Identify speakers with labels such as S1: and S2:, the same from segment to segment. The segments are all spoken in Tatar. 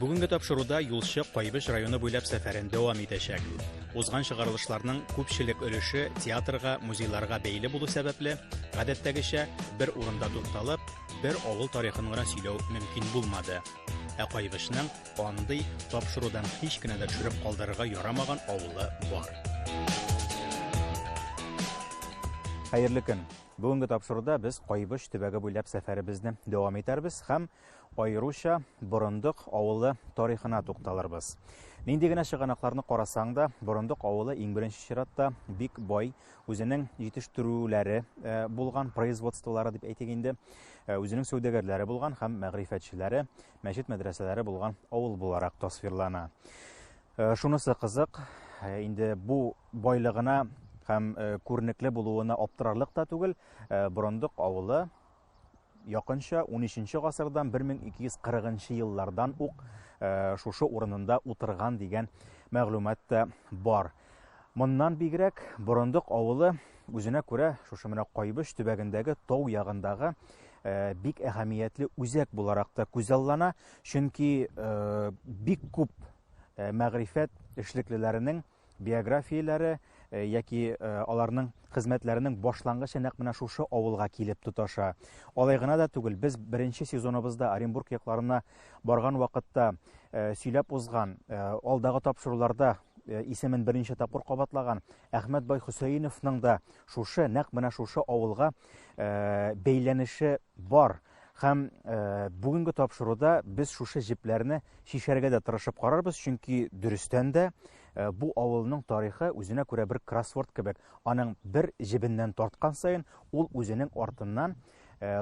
S1: Бүгенге тапшыруда юлчы Кайбыш районы буйлап сәфәрен дәвам итәчәк. Узган чыгарылышларның күпчелек өлеше театрга, музейларга бәйле булу сәбәпле, гадәттәгечә бер урында тукталып, бер авыл тарихын гына сөйләү мөмкин булмады. Ә Кайбышның Андый тапшырудан һич кенә дә төшереп калдырырга ярамаган авылы бар. Хәерле көн. Бүгенге тапшыруда без Кайбыш төбәге буйлап сәфәребезне дәвам итәрбез һәм аеруча Борындык авылы тарихына тукталырбыз. Нинди генә чыганакларны карасаң да, Борындык авылы иң беренче чиратта бик бай, үзенең җитештерүләре э, булган производстволары дип әйтик инде, э, үзенең сәүдәгәрләре булган һәм мәгърифәтчеләре, мәчет мәдрәсәләре булган авыл буларак тасвирлана. Э, шунысы кызык, э, инде бу байлыгына һәм э, күренекле булуына аптырарлык та түгел, Брондык авылы якынча 13 гасырдан 1240 еллардан ук шушы урынында утырган дигән мәгълүмат та бар. Моннан бигрәк, Борындык авылы үзенә күрә шушы менә Кайбыч төбәгендәге тау ягындагы Э, бик әһәмиятле үзәк буларак та күзаллана, чөнки э, бик күп э, мәгрифәт эшлеклеләренең биографияләре яки аларның хезмәтләренең башлангычы нәкъ менә шушы авылга килеп тоташа. Алай гына да түгел, без беренче сезоныбызда Оренбург якларына барган вакытта сөйләп узган, алдагы тапшыруларда Э, исемен берничә тапкыр кабатлаган Әхмәт бай Хөсәеновның да шушы нәкъ менә шушы авылга э, бәйләнеше бар һәм э, бүгенге тапшыруда без шушы җепләрне чишәргә дә тырышып карарбыз чөнки дөрестән дә бу авылның тарихы үзенә күрә бер кроссворд кебек аның бер җебеннән тарткан саен ул үзенең артыннан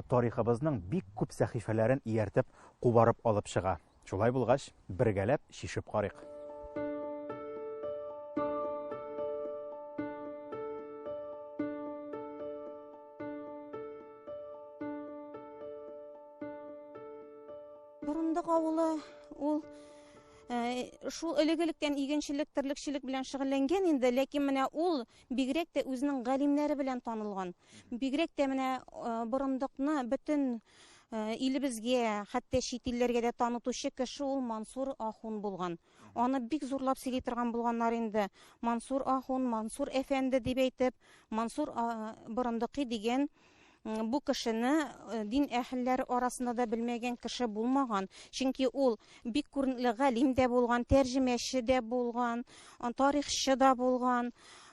S1: тарихыбызның бик күп сәхифәләрен ияртеп кубарып алып чыга Шулай булгач, бергәләп чишеп карыйк.
S2: Борындык авылы ул э, шул элек-электән игенчелек, терлекчелек белән шөгыльләнгән инде, ләкин менә ул бигрәк тә үзенең галимнәре белән танылган. Бигрәк тә менә э, борындыкны бөтен Э, илебезгә, хәтта чит илләргә дә танытучы кеше ул Мансур Ахун булган. Аны бик зурлап сөйли торган булганнар инде. Мансур Ахун, Мансур әфәнде дип әйтеп, Мансур Борындыкый дигән бу кешене э, дин әһелләре арасында да белмәгән кеше булмаган. Чөнки ул бик күренекле галим дә булган, тәрҗемәче дә булган, тарихчы да булган.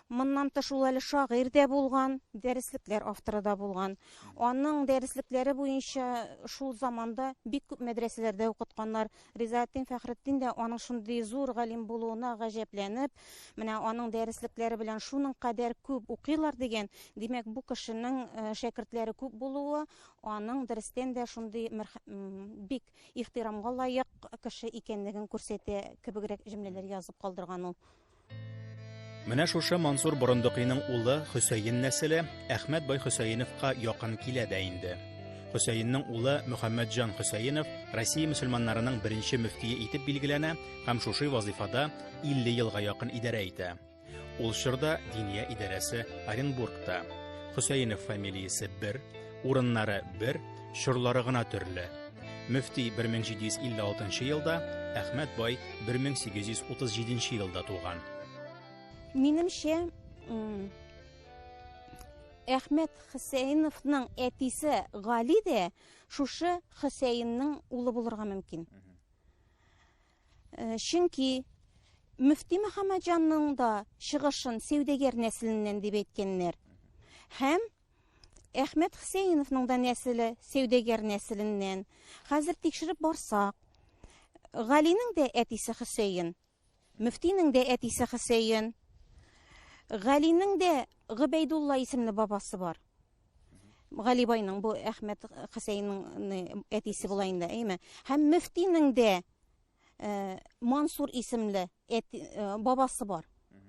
S2: Моннан тыш ул әле шагыйрь дә булган, дәреслекләр авторы да булган. Аның дәреслекләре буенча шул заманда бик күп мәдрәсәләрдә укытканнар. Ризаэттин Фәхретдин дә аның шундый зур галим булуына гаҗәпләнеп, менә аның дәреслекләре белән шуның кадәр күп укыйлар дигән, димәк, бу кешенең э, шәкертләре күп булуы, аның дөрестән дә шундый бик ихтирамга лаек кеше икәнлеген күрсәтә кебегрәк җөмләләр язып калдырган ул.
S1: Менә шушы Мансур Борындыкыйның улы Хөсәен нәселе Әхмәт бай Хөсәеновка якын килә дә инде. Хөсәенның улы Мөхәммәтҗан Хөсәенов Россия мөселманнарының беренче мөфтие итеп билгеләнә һәм шушы вазифада 50 елга якын идарә итә. Ул чорда Диния идарәсе Оренбургта. Хөсәенов фамилиясе бер, Урыннары бер, чорлары гына төрле. Мөфти 1756 елда, Әхмәт бай 1837 елда туган.
S2: Минемчә, Әхмәт Хусәйновның әтисе Гали дә шушы Хусәйнның улы булырга мөмкин. Э, чөнки Мөфти Мөхәммәтҗанның да чыгышын сәүдәгәр нәселеннән дип әйткәннәр. Һәм Әхмәт Хөсәеновның да нәселе сәүдәгәр нәселеннән. Хәзер тикшереп барсак, Галинең дә әтисе Хөсәен, мөфтинең дә әтисе Хөсәен, Галинең дә Гөбәйдулла исемле бабасы бар. Галибайның бу Әхмәт Хөсәенның әтисе була инде, әйме? Һәм мөфтинең дә Э, Мансур исемле э, бабасы бар.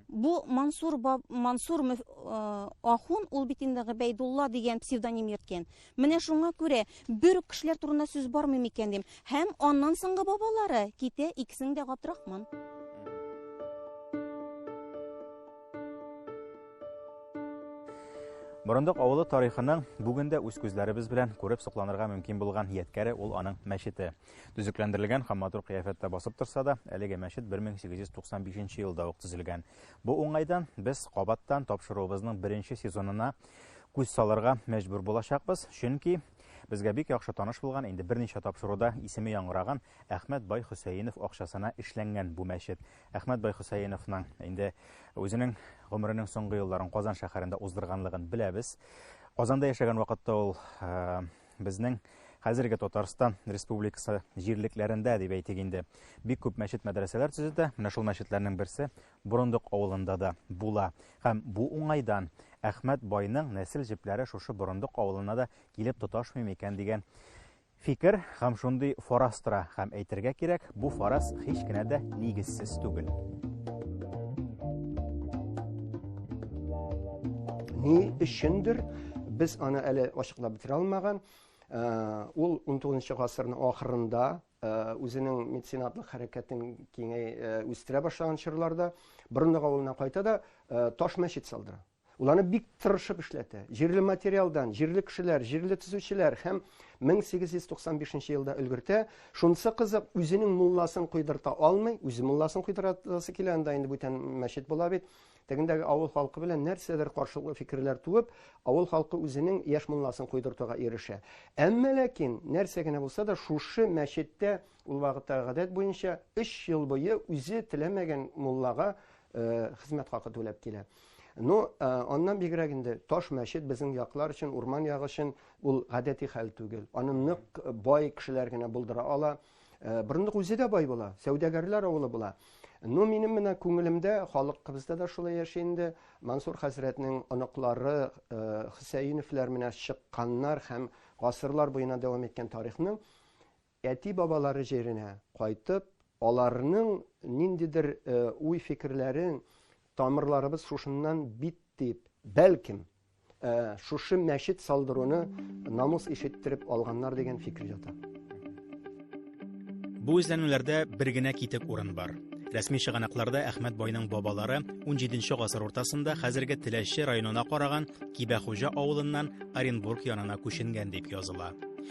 S2: Бу Мансур Мансур э, ахун ул бит инде Габайдулла дигән псевдоним йөрткән. Менә шуңа күрә бер үк кешеләр турында сүз бармы микән дим. Һәм аннан соңгы бабалары китә икесен дә Габдрахман.
S1: Борындык авылы тарихының бүгендә үз күзләребез белән күреп сокланырга мөмкин булган яткәре ул аның мәчете. Төзекләндерелгән һәм матур кыяфәттә басып торса да, әлеге мәчет 1895 елда ук төзелгән. Бу уңайдан без кабаттан тапшыруыбызның беренче сезонына күз салырга мәҗбүр булачакбыз, чөнки безгә бик яхшы таныш булган, инде берничә тапшыруда исеме яңгыраган Әхмәт бай Хөсәенов акчасына эшләнгән бу мәчет. Әхмәт бай Хөсәеновның инде үзенең гомеренең соңгы елларын Казан шәһәрендә уздырганлыгын беләбез. Казанда яшәгән вакытта ул э, Безнең хәзерге Татарстан республикасы җирлекләрендә дип әйтик инде, бик күп мәчет мәдрәсәләр төзетә. Менә шул мәчетләрнең берсе Борындык авылында да була. Һәм бу уңайдан Әхмәт байның нәсел җепләре шушы Борындык авылына да килеп тоташмый микән дигән фикер һәм шундый фараз тора. Һәм әйтергә кирәк, Бу фараз һич кенә дә нигезсез түгел.
S3: Ни өчендер без аны әле ачыклап бетерә алмаган. Э, ул 19 гасырның ахырында э, үзенең меценатлык хәрәкәтен киңәй э, үстерә башлаган чорларда Борындык авылына кайта да таш мәчет салдыра. Ул аны бик тырышып эшләтә. Җирле материалдан, җирле кешеләр, җирле төзүчеләр һәм 1895 елда өлгертә. Шунысы кызык, үзенең мулласын койдырта алмый, үзе мулласын койдырасы килә, анда инде бүтән мәчет була бит. Тегендәге авыл халкы белән нәрсәдер каршылыклы фикерләр туып, авыл халкы үзенең яшь мулласын койдыртуга ирешә. Әмма ләкин нәрсә генә булса да шушы мәчеттә Ул вакытта гадәт буенча 3 ел буе үзе теләмәгән муллага хезмәт хакы түләп килә. Ну, аннан бигрәк инде таш мәчет безнең яклар өчен, урман ягы өчен ул гадәти хәл түгел. Аны нык бай кешеләр генә булдыра ала. Борындык үзе дә бай була, сәүдәгәрләр авылы була. Ну, минем менә күңелемдә халыкыбызда да шулай яши инде. Мансур хәзрәтнең оныклары Хөсәеновлар менә чыкканнар һәм гасырлар буена дәвам иткән тарихның Әти-бабалары җиренә кайтып, аларның ниндидер уй-фикерләрен, Тамырларыбыз шушыннан бит дип, бәлкем, шушы мәчет салдыруны намус иш иттереп алганнар дигән фикер ята.
S1: Бу эзләнүләрдә бер генә китек урын бар. Рәсми чыганакларда Әхмәт байның бабалары 17 нче гасыр уртасында хәзерге Теләче районына караган Кибәхуҗа авылыннан Оренбург янына күченгән дип языла.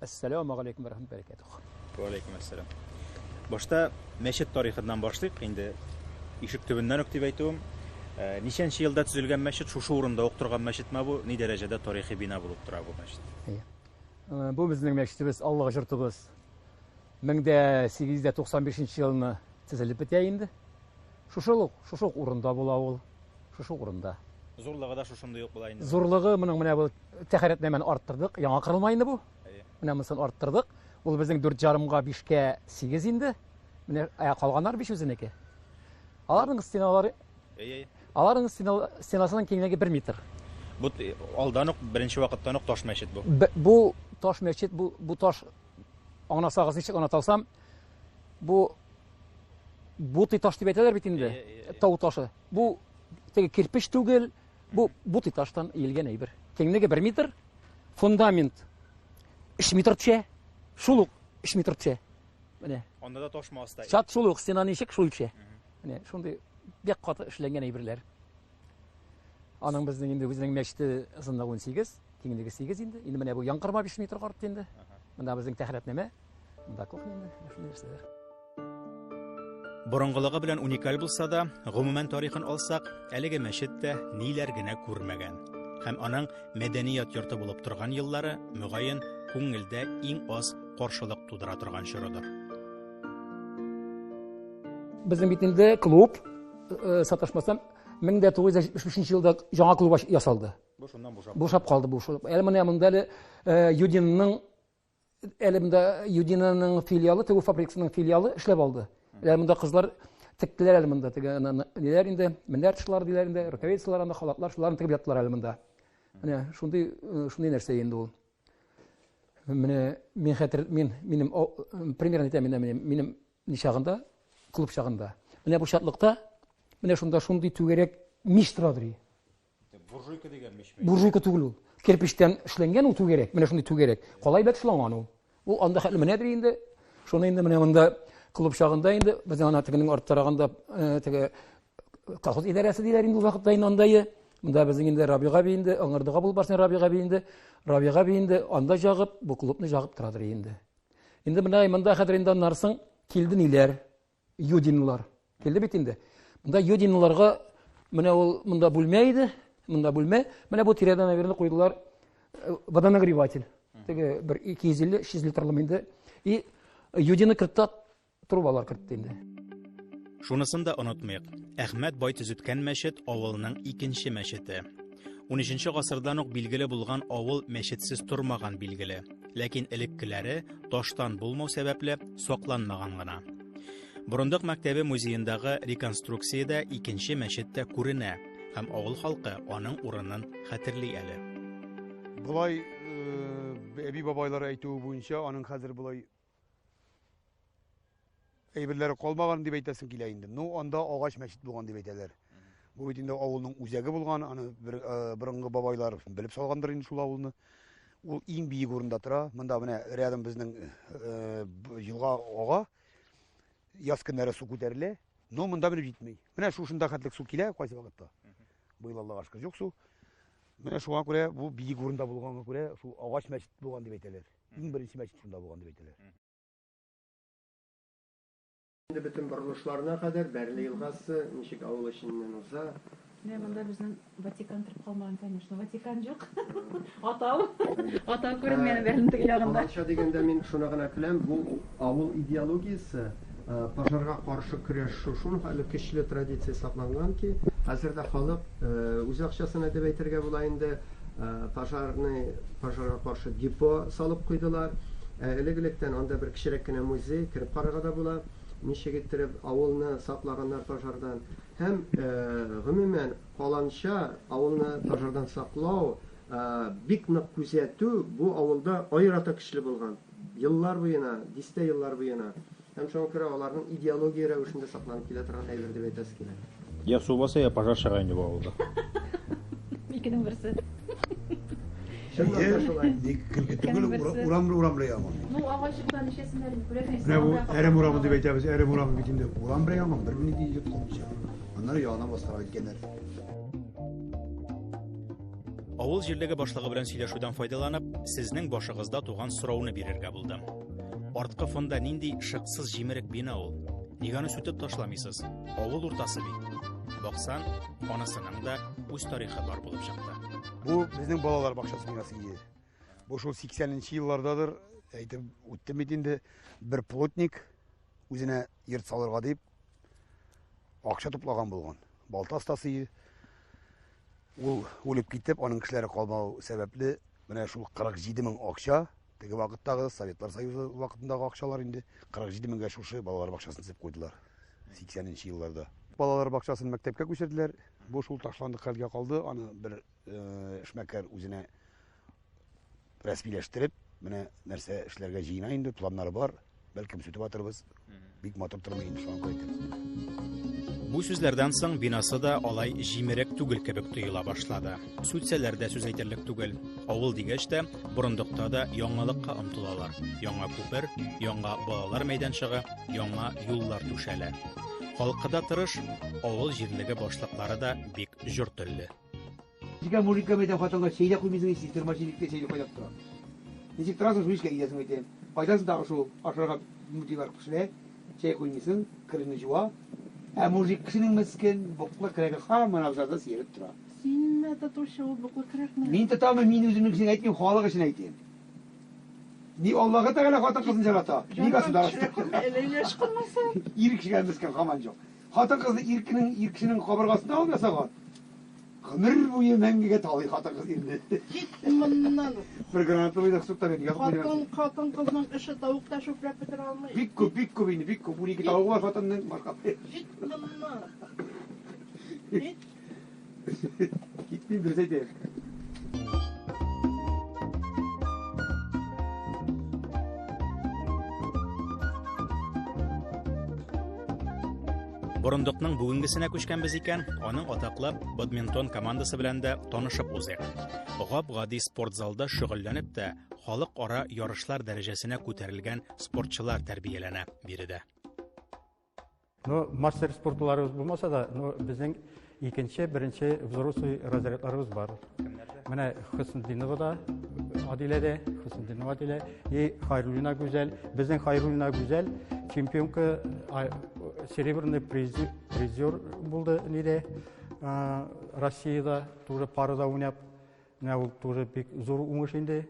S4: Ассаламу алейкум рахмат бәрәкәтүх. Ва алейкум ассалам.
S1: Башта мәчет тарихыннан башлыйк инде. Ишек төбеннән үк дип әйтүем. Э, ничәнче елда төзелгән мәчет, шушы урында ук торган мәчетме бу? Ни дәрәҗәдә тарихи бина булып тора бу мәчет? Э, бу
S4: безнең мәчетебез, Аллага җыртыбыз. 1895 елны төзелеп бетә инде. Шушы ук, шушы ук урында була ул, шушы ук урында. Зурлыгы да шушындый
S1: ук була инде. Зурлыгы моның менә бу
S4: тәхәрәтләмәне арттырдык, яңа кырылма инде бу. Әйе. Менә монысын арттырдык. Ул безнең 4 ярымга 5кә 8 инде. Менә ә, калганнар 5 үзенеке. Аларның стеналары Әйе. Аларның стенасының киңлеге 1 метр. Бу э,
S1: алдан ук беренче вакыттан ук таш мәчет бу. Бу таш
S4: мәчет, бу бу таш аңласагыз ничек аңлата алсам, Бу бутый таш дип әйтәләр бит инде. Тау ташы. Бу теге кирпич түгел, бу бутый таштан иелгән әйбер. Киңлеге 1 метр, фундамент 3 метр төшә, шул ук 3 метр төшә. Менә. Анда да ташма аста.
S1: Чат шул ук стена ничек
S4: шул төшә. Менә шундый бик каты эшләнгән әйберләр. Аның безнең инде үзенең мәчете озынлыгы 18, киңлеге 8 инде. Инде менә бу яңгырма 5 метр карт инде. Монда безнең тәхрәтнәмә.
S1: Борынгылыгы белән уникаль булса да, гомумән тарихын алсак, әлеге мәчет тә ниләр генә күрмәгән. Һәм аның мәдәният йорты булып торган еллары, мөгаен, күңелдә иң аз каршылык тудыра торган чорыдыр.
S4: Безнең бит инде клуб э, саташмасам 1975 елда жаңа клуб ясалды. Бу шуннан бушап. Бушап калды бу. Әле менә монда әле э, Юдинның Әле монда Юдинаның филиалы, тегү фабрикасының филиалы эшләп алды. Әле монда кызлар тектеләр әле монда теге ниләр инде менәр тышлар диләр инде рукавицалар анда халатлар шуларны тегеп яттылар әле монда менә шундый э, шундый нәрсә инде ул менә мин хәтер мин минем примерно әйтәм менә минем минем ни чагында клуб чагында менә бу чатлыкта менә шунда шундый түгәрәк мич тора ди Буржуйка
S1: дигән мичме? Буржуйка түгел ул.
S4: Кирпичтән эшләнгән ул түгәрәк. Менә шундый түгәрәк. Калай белән эшләнгән ул. Ул анда хәтле менәдер инде. Шуны инде менә монда клуб чагында инде безнең ана тегенең арттарагында э, теге колхоз идарәсе диләр инде ул вакытта инде андайы. Монда безнең инде Рабига би инде, аңырдыга булып барсын Рабига би инде. Рабига би инде анда жагып, бу клубны жагып торадыр инде. Инде менә монда хәзер инде аннарсың килде ниләр. Юдинлар. Келде бит инде. Монда юдинларга менә ул монда бүлмә иде, монда бүлмә. Менә бу тирәдә, наверное, куйдылар э, водонагреватель. Теге бер 250-300 литрлы инде. И юдины кертта трубалар кертте инде. Шунысын
S1: да онытмыйк. Әхмәт бай төзеткән мәчет авылның икенче мәчете. 13 гасырдан ук билгеле булган авыл мәчетсез тормаган билгеле. Ләкин элеккеләре таштан булмау сәбәпле сакланмаган гына. Борындык мәктәбе музеендагы реконструкциядә икенче мәчет тә күренә һәм авыл халкы аның урынын хәтерли әле.
S5: Болай э, әби бабайлар әйтүе буенча, аның хәзер болай әйберләре калмаган дип әйтәсең килә инде. Ну, анда агач мәчет булган дип әйтәләр. Бу бит инде авылның үзәге булган, аны бер э, борынгы бабайлар белеп салгандыр инде шул авылны. Ул иң биек урында тора. Монда менә рядом безнең э, елга ага. Яз көннәре су күтәрелә. Но монда менеп җитми. Менә шушында хәтлек су килә кайсы вакытта. Быел Аллага шөкер юк су. Менә шуңа күрә бу биек урында булганга күрә шул агач мәчет булган дип әйтәләр. иң беренче мәчет шунда булган дип әйтәләр.
S3: Инде бөтен борылышларына кадәр Бәрле елгасы ничек авыл эченнән уза? Менә монда безнең
S6: Ватикан торып калмаган, конечно. Ватикан юк. Атау. Атау күренгән Бәрлен теге ягында. Каланча дигәндә мин шуны
S3: гына көләм, бу Авыл идеологиясе, пожарга каршы көрәш шушы хәле көчле традиция сакланган ки, хәзер дә халык үз акчасына дип әйтергә була инде, пожарный, пожарга каршы депо салып куйдылар. Ә элек-электән анда бер кечерәк кенә музей, кереп карарга да була, ничек иттереп авылны саклаганнар пожардан. Һәм, гомумән, каланча авылны пожардан саклау, бик нык күзәтү бу авылда аерата көчле булган. Еллар буена, дистә еллар буена һәм шуңа күрә аларның идеология рәвешендә сакланып килә торган әйбер дип әйтәсе килә. Я су баса, я
S1: пожар чыга инде бу авылда.
S6: Икенең берсе. Чыннан да шулай. Ник көлке
S5: түгел, урамлы урамлы янгын. Ну, агай чыкта
S6: ничәсен әле күрәсең. Менә бу әрем урамы
S5: дип әйтәбез, әрем урамы бит инде. Урам белән янгын бер минут йоткылмыйча. Аннары яна басарга киткәннәр.
S1: Авыл җирлеге башлыгы белән сөйләшүдән файдаланып, сезнең башыгызда туган сорауны бирергә булдым. Арткы фонда нинди шыксыз җимерек бина ул? Нигә аны сүтеп ташламыйсыз? Авыл уртасы бит. Баксан, анасының да үз тарихы бар булып чыкты. Бу безнең балалар
S5: бакчасы бинасы иде. Бу шул 80-нче еллардадыр, әйтеп үттем бит инде, бер плотник үзенә йорт салырга дип, Акча туплаган булган. Балта остасы ул үлеп китеп, аның кешеләре калмау сәбәпле, менә шул 47 мең акча, теге вакыттагы Советлар Союзы вакытындагы акчалар инде 47 меңгә шушы балалар бакчасын төзеп куйдылар. 80-нче елларда. Балалар бакчасын мәктәпкә күчерделәр. Бу шул ташланды хәлгә калды. Аны бер э, эшмәкәр үзенә рәсмиләштереп, менә нәрсә эшләргә җыена инде, планнары бар. Бәлкем сүтеп атырбыз. Бик матур тормый инде шуңа күрә. Бу сүзләрдән
S1: соң бинасы да алай җимерек түгел кебек тоела башлады. Сүтсәләр дә сүз әйтерлек түгел. Авыл дигәч тә, борындыкта да яңалыкка омтылалар. Яңа күпер, яңа балалар мәйданчыгы, яңа юллар түшәлә. Халкы да тырыш, авыл җирлеге башлыклары да бик җор телле. Нигә
S7: мужикка мәйтәм, хатынга чәй дә куймыйсың, сестер мошенникка чәй дә кайнап тора. Ничек торасың шул эшкә китәсең мәйтәм. Кайдасың тагы шул ашарга мутыйлар кешеләр, чәй куймыйсың, кереңне җуа. Ә мужик кешенең мескен буклы крәге һаман абзарда сиереп тора. Синме тотучы
S6: ул буклы крәкне? Мин тотамы, мин үземнең
S7: өчен әйтмим, халык өчен әйтәм. Ни Аллаһы Тәгалә хатын кызын җарата, ни государство.
S6: Ир кешегә мескен
S7: һаман җок. Хатын кызны ир кенең, ир кешенең кабыргасына алып ясаган. Гомер буе мәңгегә талый хатыгыз инде. Кит моннан.
S6: Бер граната
S7: уйнак суктан инде ягып уйнап. Хатын, хатын кызның
S6: эше тавык та чүпләп бетерә алмый. Бик күп, бик күп инде, бик
S7: күп. Унике тавыгы бар хатынның башка. Кит моннан. Кит. Китми дөрес әйтәм.
S1: Борындыкның бүгенгесенә күчкәнбез икән, аның атаклы бадминтон командасы белән дә танышып узыйк. Гап-гади спорт залда шөгыльләнеп тә, халыкара ярышлар дәрәҗәсенә күтәрелгән спортчылар тәрбияләнә биредә. Ну,
S8: мастер спортларыбыз булмаса да, ну, безнең Икенче, беренче взрослый разрядларыбыз бар. Менә Хөснетдинова да, Адилә дә, Хөснетдинова Адилә и Хайруллина Гүзәл. Безнең Хайруллина Гүзәл чемпионка серебряный призер булды ниде Россияда, тоже парада уйнап. Менә ул тоже бик зур уңыш инде.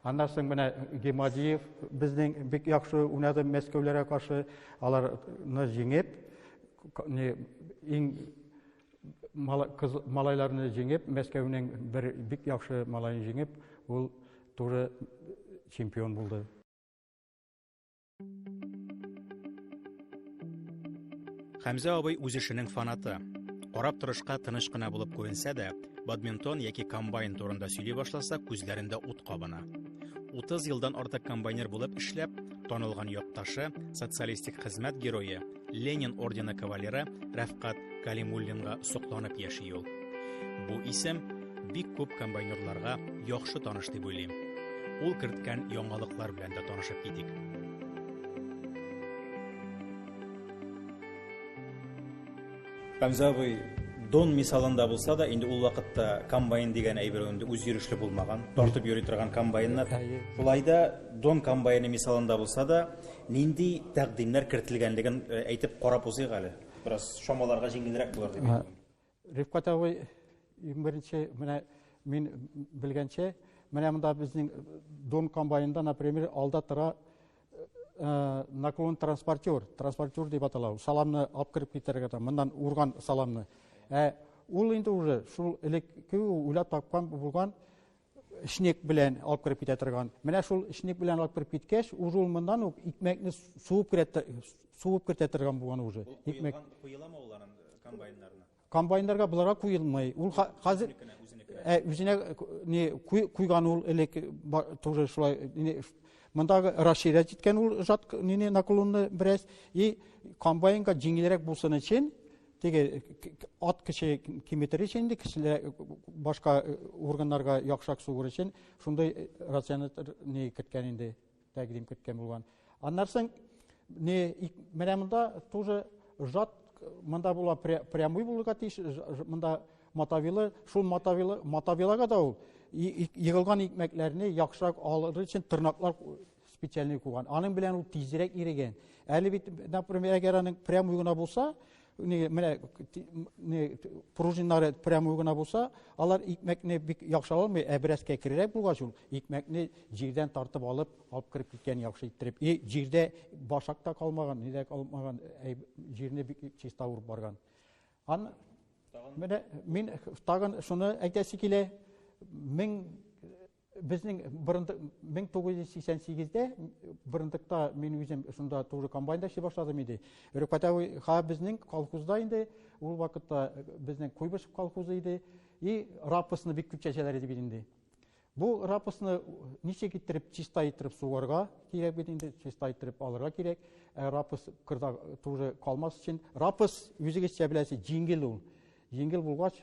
S8: Аннан соң менә Гемадиев безнең бик яхшы уйнады Мәскәүләргә каршы. Аларны җиңеп, иң малайларны җиңеп, Мәскәүнең бер бик яхшы малаен җиңеп, ул туры чемпион булды.
S1: Хәмзә абый үз эшенең фанаты. Карап торышка тыныш кына булып күренсә дә, бадминтон яки комбайн турында сөйли башласа, күзләрендә ут кабына. 30 елдан артык комбайнер булып эшләп, танылган якташы, социалистик хезмәт герое, Ленин ордены кавалеры Рәфкат Калимуллинга сокланып яши ул. Бу исем бик күп комбайнерларга яхшы таныш дип уйлыйм. Ул керткән яңалыклар белән дә танышып китик. Хамза абый Дон мисалында булса да, инде ул вакытта комбайн дигән әйбер инде үзйөрешле булмаган, тартып йөри торган комбайннар. Шулай да Дон комбайны мисалында булса да, Нинди тәкъдимнәр кертелгәнлеген әйтеп карап узыйк әле. Бераз чамаларга җиңелрәк булыр дип әйтәм. Рифкат
S8: абый, иң беренче менә мин белгәнчә, менә монда безнең Дон комбайнында, например, алда тора Э, наклон транспортер, транспортер дип атала, саламны алып кереп китерергә да, моннан урган саламны. Ә ул инде уже шул элекке уйлап тапкан булган эчник белән алып кереп китә торган. Менә шул эчник белән алып кереп киткәч, уже ул моннан ук икмәкне суып кертә суып кертә торган булган уже. Икмәк куеламы ул анын
S1: э, комбайннарына? Комбайннарга буларга
S8: куелмый. Ул хәзер э, үзенә не куйган ул элек тоже шулай Мондагы Рашида җиткән ул жат нине наклонны бераз и комбайнга җиңелрәк булсын өчен Теге ат кеше киметер өчен инде, кешеләр башка органнарга яхшырак сугыр өчен шундый рационатор не керткән инде, тәкъдим керткән булган. Аннан соң не менә монда тоже жат монда була прямой булырга тиеш, монда матавилы, шул матавилы, матавилага да ул егылган икмәкләрне яхшырак алыр өчен тырнаклар специальный куган. Аның белән ул тизрәк иреген. Әле бит, например, әгәр аның прямой гына булса, не, менә не, пружиннары прямой гына булса, алар икмәкне бик яхшы алмый, ә бераз кәкрерәк булгач ул икмәкне җирдән тартып алып, алып кереп киткән яхшы иттереп. И җирдә башак та калмаган, нидә калмаган, ә, җирне бик чиста урып барган. Ан менә мин тагын шуны әйтәсе килә. Мең Безнең борындык 1988-дә борындыкта мин үзем шунда тоже комбайнда эшли башладым иде. Рөкатәви ха безнең колхозда инде ул вакытта безнең Куйбышев колхозы иде. И рапосны бик күп чәчәләр иде бит инде. Бу рапосны ничек иттереп чиста иттереп сугарга кирәк бит инде, чиста иттереп алырга кирәк. Ә рапос кырда тоже калмас өчен. Рапос үзегезчә беләсез, җиңел ул. Җиңел булгач,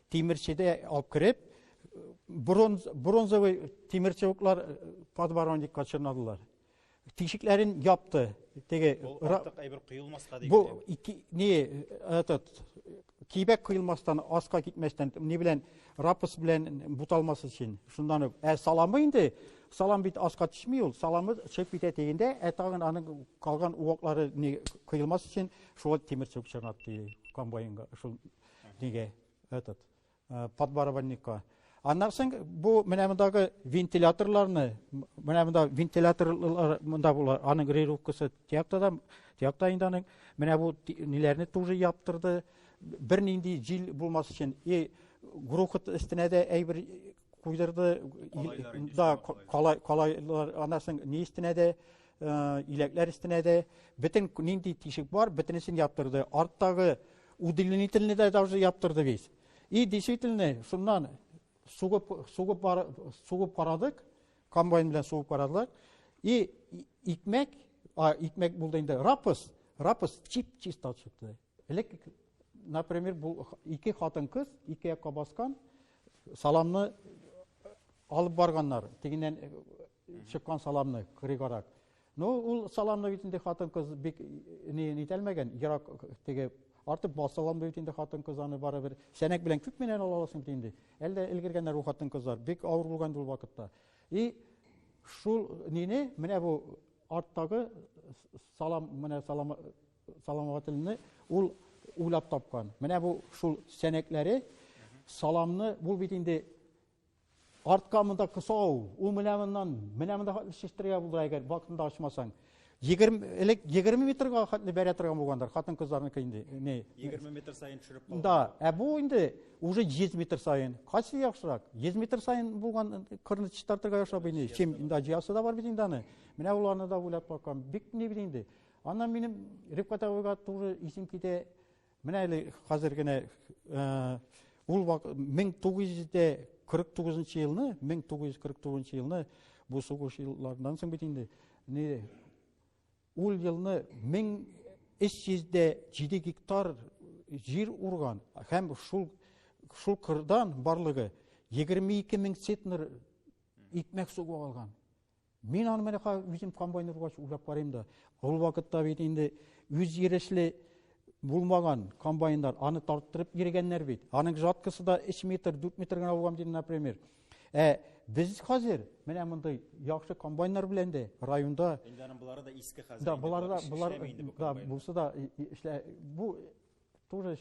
S8: Тимерчедә алып кереп, бронз, бронзовый тимерчевоклар подворонникка чорнадылар. Тишекләрен япты. Теге артык әйбер
S1: коелмаска дип. Бу ике не
S8: этот кибәк коелмастан, аска китмәстән, ни белән рапс белән буталмас өчен. Шундан ук. Ә саламы инде салам бит аска төшми ул саламы чыгып китә дигәндә ә тагын аның калган уаклары не коелмас өчен шул тимер чүк чыгып ди комбайнга шул неге, этот, э, подбарабанникка. Аннан соң бу менә мондагы вентиляторларны, менә монда вентиляторлар монда булар, аның регулировкасы тиякта да, тиякта инде аның. Менә бу ниләрне тоже яптырды. Бернинди җил булмас өчен и грохот өстенә дә әйбер куйдырды. Да, калай, калайлар, аннан соң ни өстенә дә Э, иләкләр өстенә дә бөтен нинди тишек бар, бөтенесен яптырды. Арттагы Удлинительный да даже яптырды бит. И действительно, шуннан сугып, сугып, бар, сугып карадык, комбайн белән сугып карадылар. И икмәк, а, икмәк булды инде, рапыс, рапыс чип-чист чыкты. Элек, например, бу ике хатын кыз, ике якка баскан, саламны алып барганнар. Тегеннән Чыккан саламны кырыйгарак. Ну, ул саламны бит инде хатын-кыз бик ни нитәлмәгән, ерак теге артып басалам бит инде хатын-кыз аны барыбер сәнәк белән күп менән ала аласың бит инде. Әлдә элгергәннәр ул хатын-кызлар, бик авыр булган ул вакытта. И шул нине менә бу арттагы салам менә салам саламатылны ул уйлап тапкан. Менә бу шул сәнәкләре саламны бул бит инде Артка монда кысау, ул менә моннан, менә монда хәтле шештергә булдыра әгәр вакытында ачмасаң. 20 элек 20 метрга хәтле бәрә торган булгандыр, хатын кызларныкы инде. Не? 20 метр
S1: саен төшереп калган. Да, ә бу инде
S8: уже 100 метр саен. Кайсы яхшырак? 100 метр саен булган кырны чистартырга яхшырак инде. Чем инде җыясы да бар бит инде аны. Менә уларны да уйлап баккан. Бик ни бит инде. Аннан минем Рифкат абыйга туры исем китә. Менә әле хәзер генә ул 1949 елны, 1949 елны бу сугыш елларыннан соң бит инде ул елны 1307 гектар җир урган һәм шул шул кырдан барлыгы 22 мең центнер икмәк сугып алган. Мин аны менә үзем комбайн ургач уйлап карыйм да, ул вакытта бит инде үзйөрешле булмаган комбайннар, аны тарттырып йөргәннәр бит. Аның жаткасы да 3 метр, 4 метр генә булган диде, например. Ә без хәзер менә мондый яхшы комбайннар белән дә районда Инде аның булары да иске
S1: хәзер. Да, булары да, булар
S8: да булса да эшлә бу тоже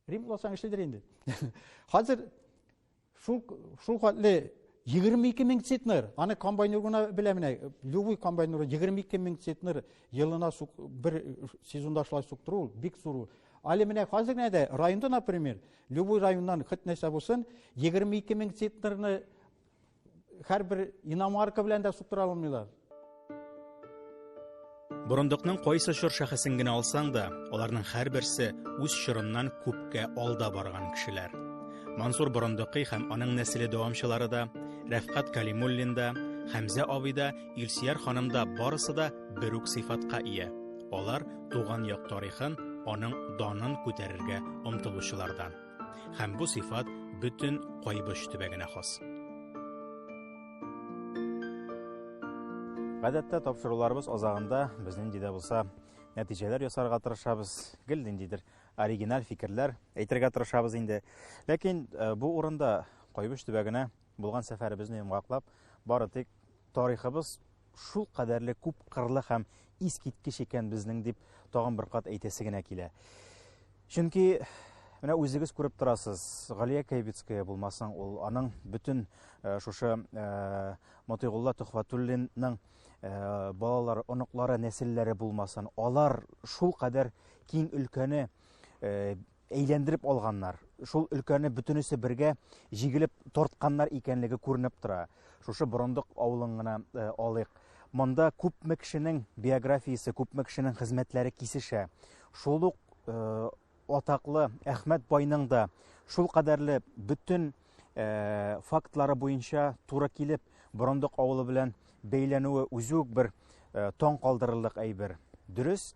S8: Рим кыласаң эшлидер инде. Хәзер шул шул хәтле 22 мең центнер, аны комбайнер гына белә менә, любой комбайнер 22 мең центнер елына бер сезонда шулай суктыру бик зур. Әле менә хәзер генә дә районда, например, любой районнан хит нәрсә булсын, 22 мең центнерны Һәрбер иномарка белән дә суктыра алмыйлар.
S1: Борындыкның кайсы чор шәхесен генә алсаң да, аларның һәрберсе үз чорыннан күпкә алда барган кешеләр. Мансур Борындыкый һәм аның нәселе дәвамчылары да, Рәфкат Калимуллин да, Хәмзә абый да, Илсияр ханым да барысы да бер үк сыйфатка ия. Алар туган як тарихын, аның данын күтәрергә омтылучылардан. Һәм бу сыйфат бөтен Кайбыч төбәгенә хас. Гадәттә тапшыруларыбыз азагында без нинди дә булса нәтиҗәләр ясарга тырышабыз, гел ниндидер оригиналь фикерләр әйтергә тырышабыз инде. Ләкин э, бу урында Кайбыч төбәгенә Булган сәфәребезне йомгаклап, бары тик тарихыбыз шул кадәрле күп кырлы һәм искиткеч икән безнең дип тагын бер кат әйтәсе генә килә. Чөнки Менә үзегез күреп торасыз, Галия Кәйбицкая булмасаң, ул аның бөтен э, шушы э, Мотыйгулла Төхвәтуллинның э, балалары, оныклары, нәселләре булмасын, алар шул кадәр киң өлкәне әйләндереп алганнар. Шул өлкәне бөтенесе бергә җигелеп тартканнар икәнлеге күренеп тора. Шушы Борындык авылын гына э, алыйк. Монда күпме кешенең биографиясе, күпме кешенең хезмәтләре кисешә. Шул ук э, атаклы Әхмәт байның да шул кадәрле бөтен э, фактлары буенча туры килеп Борындык авылы белән бәйләнүе үзе үк бер э, таң калдырырлык әйбер. Дөрес,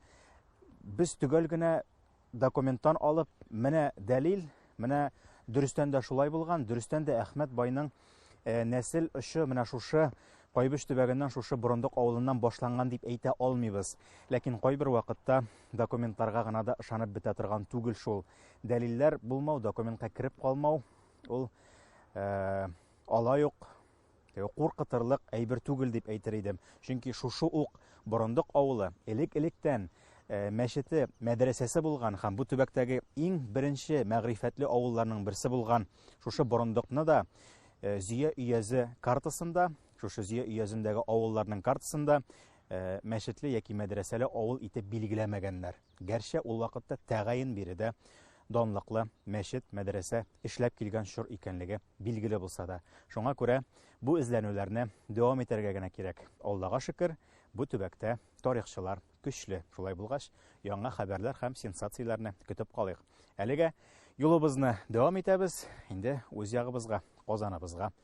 S1: без төгәл генә Документтан алып, менә дәлил, менә дөрестән дә шулай булган, дөрестән дә Әхмәт байның э, нәсел очы менә шушы Кайбыч төбәгеннән шушы Борындык авылыннан башланган дип әйтә алмыйбыз. Ләкин кайбер вакытта документларга гына да ышанып бетә торган түгел шул. Дәлилләр булмау, документка кереп калмау, ул э, алай ук Э, куркытырлык әйбер түгел дип әйтер идем. Чөнки шушы ук Борындык авылы элек-электән э, мәчете, мәдрәсәсе булган һәм бу төбәктәге иң беренче мәгърифәтле авылларның берсе булган шушы Борындыкны да э, Зөя өязе картасында, шушы Зөя өязендәге авылларның картасында мәчетле яки мәдрәсәле авыл итеп билгеләмәгәннәр. Гәрчә ул вакытта тәгаен биредә данлыклы мәчет, мәдрәсә эшләп килгән чор икәнлеге билгеле булса да. Шуңа күрә бу эзләнүләрне дәвам итәргә генә кирәк. Аллага шөкер, бу төбәктә тарихчылар көчле. Шулай булгач, яңа хәбәрләр һәм сенсацияләрне көтеп калыйк. Әлегә юлыбызны дәвам итәбез, инде үз ягыбызга, Казаныбызга